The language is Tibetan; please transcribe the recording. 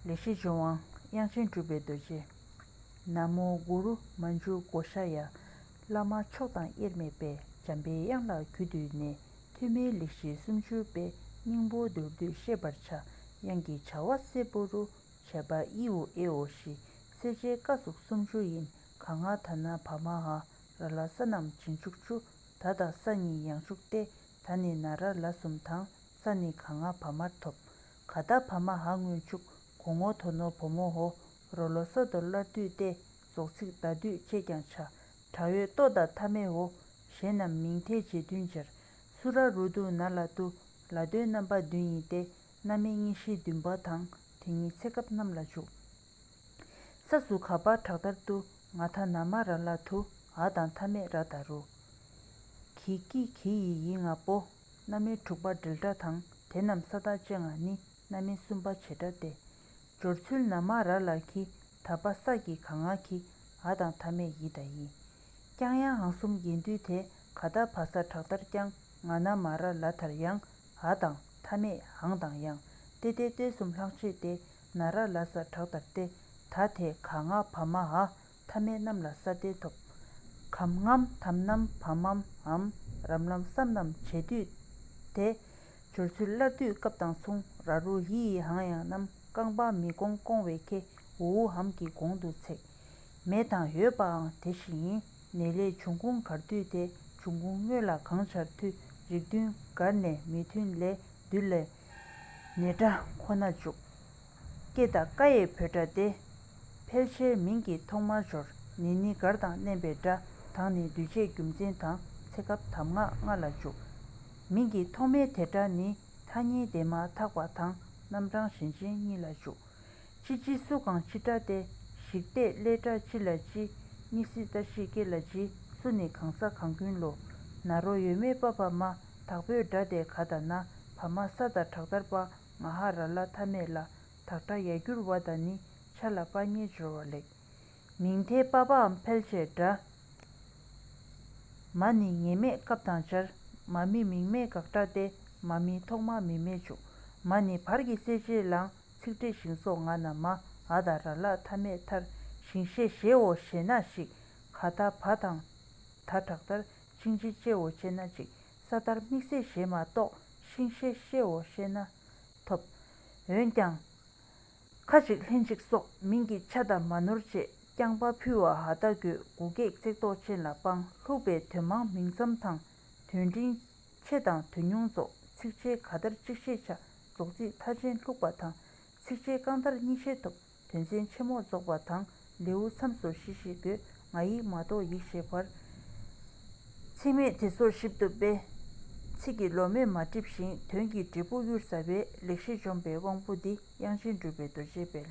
ལས་བྱེད་ལྗོན་དབང་དབྱངས་ཅན་སྤྲུལ་པའི་རྡོ་རྗེ། ན་མོ་གུ་རུ་མ་འཇུག་བགོ་བཤའ་ཡ། བླ་མ་མཆོག་དང་དབྱེར་མེད་པས་འཇམ་པའི་དབྱངས་ལ་གུས་བཏུད་ནས་ཐོན་མིའི་ལས་བཞི་སུམ་ཅུ་པའི་སྙིང་པོ་མདོར་བསྡུས་ཤེས་པར་བྱ་དབྱངས་ཀྱི་བྱ་བ་སེར་པོ་རུ་བྱས་པ་དབྱི་འོ་ཨེ་འོ་ཞི་སེ་ཇའི་བཀའ་གཟུགས་སུམ་ཅུ་ཡིན་ག་ང་ད་ན་བ་མ་ཧ་ར་ལ་ས་རྣམས་བྱིན་བཅུག་ཅུ་ད་དང་ས་གཉིས་ཡང་བཅུག་སྟེ་ད་ནི་ན་ར་ལ་གསུམ་དང། ས་ནི་ག་ང་བ་མར་ཐོབ། ག་དག་བ་མ་ཧ་སྔོན་ཕྱུག་གོ་ངོ་དོ་ནོ་བོ་མོ་ཧོ་རོ་ལོ་སོ་དོ་སླར་བསྡུས་ཏེ་རྫོགས་ཚིག་བདག་བསྡུས་ཁྱེད་ཀྱང་བྱ། བྲ་འོད་ལྟོ་དང་ཐ་མེ་ཧོ་གཞན་རྣམས་མིང་མཐའི་རྗེས་མཐུན་སྦྱར། སུ་ར་རུ་དུ་ན་ལ་དུ་ལ་དོའི་རྣམ་པ་བདུན་ཡིན་ཏེ་སྣ་སྨེ་གཉིས་བཞི་བདུན་པ་དང་དེ་གཉིས་ཚེ་སྐབས་རྣམས་ལ་འཇུག། ས་སུ་ག་བར་གྲགས་ལྟར་དུ་ང་ཐ་ན་མ་ར་ལ་དུ་ཨ་དང་ཐ་མེ་ར་ད་རུ། གི་ཀི་གི་ཡི་ཡི་ང་པོ། རྣམ་སྨིན་དྲུག་པ་དྲིལ་སྒྲ་དང་དེ་རྣམས་ས་བདག་ཅན་ལ་ནི་རྣམ་སྨིན་གསུམ་པ་བྱེ་བྲག་སྟེ། སྦྱོར་ཚུལ་ན་མ་ར་ལ་གི་ད་པ་ས་ཀྱི་ག་ང་གི་ཨ་དང་ཐ་མས་ཡི་དང་ཡི། ཀྱང་ཡང་ཨང་གསུམ་ཡན་དུས་དེ་ག་ད་བ་ས་བྲག་ལྟར་ཀྱང་ང་ན་མ་ར་ལ་དར་ཡང་ཨ་དང་ཐ་མས་ཨང་དང་ཡང་ཏེ་ཏའི་ཏོའི་གསུམ་ལྷག་ཕྱེད་ཏེ་ན་ར་ལ་ས་བྲག་ལྟར་ཏེ་ད་དེ་ག་ང་བ་མ་ཨ་ཐ་མལ་རྣམས་ལ་སྲ་བརྟན་ཐོབ། གམ་ངམ་དམ་ནམ་བམ་མམ་འམ་རམ་ལམ་སམ་རྣམས་བྱེད་དུས་དེ། སྦྱོར་ཚུལ་སླར་བསྡུས་སྐབས་དང་མཚུངས་ར་རུ་ཡི་ཡི་ཧང་ཡང་རྣམས་རྐང་པ་མི་སྒོང་སྐོང་བའི་ཁེ་འུའུ་ཧམ་གྱི་གོང་དུ་ཚེགས། མེད་དང་ཡོད་པའང་དེ་བཞིན་ཡིན། ནས་ལས་བྱུང་ཁུངས་གར་མཐུད་དེ་བྱུང་ཁུངས་དངོས་ལ་གང་བྱར་མཐུད་རིགས་མཐུན་གར་ནས་མི་མཐུན་ལས་བསྡུས་ལས། ནས་སྒྲ་ཁོ་ན་འཇུག། སྐྱེ་དང་བཀའ་ཡི་བུ་སྒྲ་སྟེ། ཕལ་ཆེར་མིང་གི་ཐོག་མར་སྦྱོར་ནི་ནི་གར་དང་བསྣན་པའི་སྒྲ་དང་ནི་འདུས་བྱས་རྒྱུ་མཚན་དང་ཚེ་སྐབས་དམ་ངག་ལྔ་ལ་འཇུག། མིང་གི་ཐོག་མའི་དེ་སྒྲ་ནི་ཐ་སྙད་དེ་མ་ཐག་པ་དང་རྣམ་གྲངས་ཞེན་ཅན་གཉིས་ལ་འཇུག། ཅི་ཅི་སུ་གང་ཅི་སྒྲ་སྟེ་ཞིག་བལྟས་བསླད་སྒྲ་ཅི་ལ་ཅི་གཉིས་སྲི་ད་ཤི་ཀེ་ལ་ཅི་སུ་ནི་གང་ས་གང་ཀུན་ལོ་ན་རོ་ཡོད་མེད་པ་བ་མ་དག་པོའི་སྒྲ་སྟེ་ག་ད་ན་བ་མ་ས་ད་དྲག་དར་པ་ང་ཧ་ར་ལ་ཐ་མས་ལ་དྭགས་སྒྲ་ཡལ་འགྱུར་བ་དང་ནི་ཆ་ལ་པ་གཉིས་སྦྱོར་བ་ལེགས། མིང་མཐའི་པ་པའམ་ཕལ་ཆེར་སྒྲ། མ་ནི་ངེས་མེད་སྐབས་དང་སྦྱར། མ་མི་མིང་མེད་དགག་སྒྲ་སྟེ་མ་མིན་ཐོག་མ་མིན་མེད་འཇུག། མ་ནི་བར་གྱི་གསལ་བྱེད་ལའང་ཚིག་འགྲེལ་ཞིང་སོགས་ང་ན་མ་ཨ་དང་ར་ལ་ཐ་མས་མཐར་ཞིང་བཤད་ཞེའོ་ཞེ་ན་ཞིག་ག་ད་བ་དང་ད་དྲག་མཐར་ཕྱིན་ཅི་སྐྱེའོ་ཅེ་ན་ཅིག་ས་ལྟར་དམིགས་བསལ་ཞེས་མ་རྟོགས་ཤིང་ཤེས་བཤེའོ་ཤེས་ན་ཐོབ། འོན་ཀྱང། ཁ་ཅིག་ལྷན་ཅིག་སོགས་མིང་གི་ཆ་དང་མ་ནོར་བཅས་རྐྱང་པ་ཕུལ་བ་ཧ་ད་གུ་དགུ་གེགས་བརྩེགས་དོག་ཅན་ལ་དཔང་ལྷུག་པའི་དོན་མང་མིང་ཙམ་དང་དོན་འབྲིང་ཆེ་དང་དོན་ཉུང་རྫོགས་ཚིགས་བཅད་ག་དར་གཅིག་ཤེས་བྱ་རྫོགས་ཚིག་མཐའ་ཅན་ལྷུག་པ་དང་ཚིགས་བཅད་རྐང་དར་གཉིས་ཤེས་ཐོབ། དོན་ཚན་ཆེན་མོ་རྫོགས་པ་དང་ལེའུ་མཚམས་སོར་བཞི་བཞི་དགོས་ང་ཡིག་མ་གཏོགས་ཡིག་ཤེས་བར། ཚིག་རྨད་དེ་སོར་བཞི་བཏུབ་པས། ཚིག་གི་ལོ་མས་མ་བསྒྲིབས་ཤིང་དོན་གྱི་འབྲས་བུ་གཡུར་ཟ་བས་ལེགས་བཤད་འཇོམས་པའི་དབང་པོ་འདི་དབྱངས་ཅན་གྲུབ་པའི་རྡོ་རྗེའི་དཔལ།